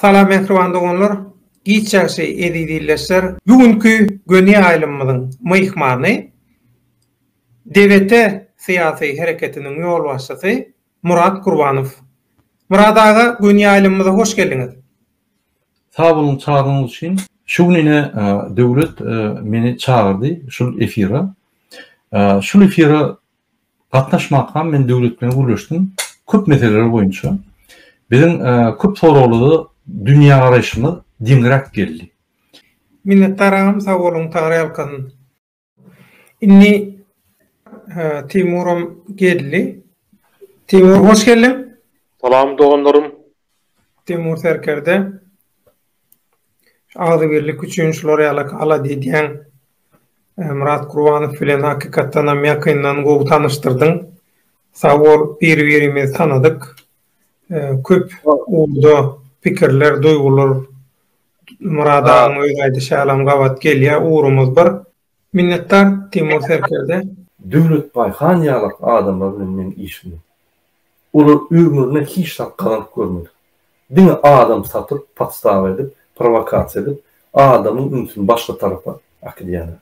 Salam mähriban doganlar, giç ýagşy eziz ildeşler! Bu günki göni ýaýlymymyzyň myhmany DBT syýasy hereketiniň ýolbaşçysy Murat Gurbanow. Murat aga, göni ýaýlymymyza hoş geldiňiz! Sag boluň çagyrynyňyz üçin. Şu gün ine Döwlet meni çagyrdy şul efira. Şul efira Gatnaşmakam men döwlet bilen gürleşdim. Köp meseleler boýunça. Biziň köp soraglarda dünýägaraýşymyz deňräk geldi. Minnetdaram sag boluň tagryýalkasyn. Indi Timuram geldi. Timur hoş geldiň. Salam doganlarym. Timur serkerde. Agzybirlik üçin şular ýaly halat edýäň. Myrat Gurbanow bilen hakykatdanam ýakyndan gowy tanyşdyrdyň. Sag bol, bir-birimizi tanadyk. Köp ugurda pikirler, duýgular Myrat agaň özi aýdyşy ýalam gabat gelýär. Ugrumyz bir. Minnetdar Timur Serkerde. Döwletbaý han ýalak adamlar bilen men işimi. Olar ömrüne hiç zat gazanyp görmedik. Diňe adam satyp, podstawa edip, prowokasiýa edip, adamyň ünsüni başga tarapa akydýarlar.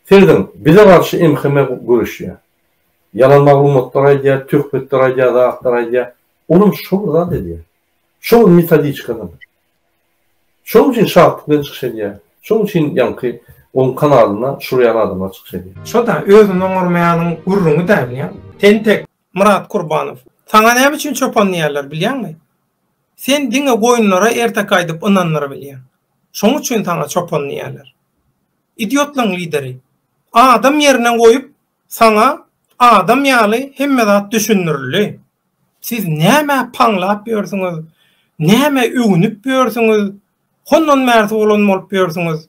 Serediň, bize garşy MHM göreşýär. Ýalan maglumatlar aýdýar, töhmetler aýdýar, zatlar aýdýar. Olam şo bir zat edýär. Şo bir metodiçka zat. Şonuň üçin şatlyk bilen çykyş edýär. Şonuň üçin ýaňky onuň kanalyna şurýan adamlar çykyş edýär. Şo-da, özüni oňarmaýanyň gürrüňi däl bu ýa. Tentek, Myrat Kurbanow, saňa näme üçin çopan diýýärler bilýäňmi? Sen diňe goýunlara ertek aýdyp ynandyrabilýäň. Şoň üçin saňa çopan diýýärler. Idiotlaň lideri. Adam ýerine goýup, Saňa adam ýaly hemme zat düşündirildi. Siz nämä paňlap ýörsüňiz, nämä öwünip ýörsüňiz, hondan bärsi bolan bolup ýörsüňiz.